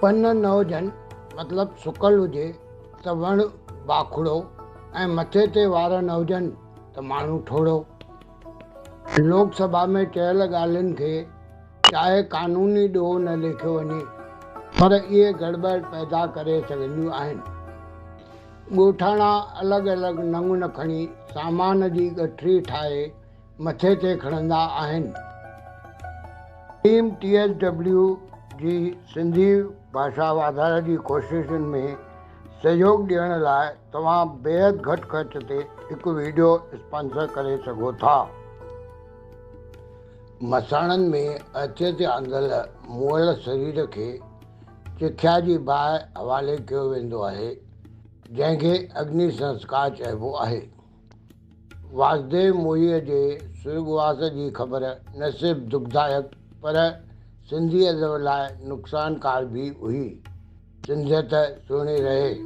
پن نه هجن مطلب سڪل هجي ته وڻ باکڙو ۽ مٿي تي وار نه هجن ته ماڻهو ٺوڙهو. لوڪ سڀا ۾ چيل ڳالهين کي چاهي قانوني ڏوهه نه ليکيو وڃي پر اهي گڙٻڙ پيدا ڪري سگهنديون آهن. ڳوٺاڻا الڳ الڳ ننگ نکڻي سامان جي ڳٺري ٺاهي مٿي تي کڻندا آهن. ٽيم ٽي ايس ڊبليو جي سنڌي ڀاشا واڌاري جي ڪوششن ۾ سهيوڳ ڏيڻ لاء توهان بيحد گهٽ خرچ تي هڪ ويڊيو اسپانسر ڪري سگهو ٿا. مساڻن ۾ عرصي تي آندل مئل سرير کي چکيا جي باهه حوالي ڪيو ويندو آهي، جنهن کي اگني سنسڪار چئبو آهي. واسديو موهيء جي سرڳواس جي خبر نه صرف دکدائڪ پر سنڌي ادب لاء نقصانڪار به هئي. سنڌيت سهڻي رهي.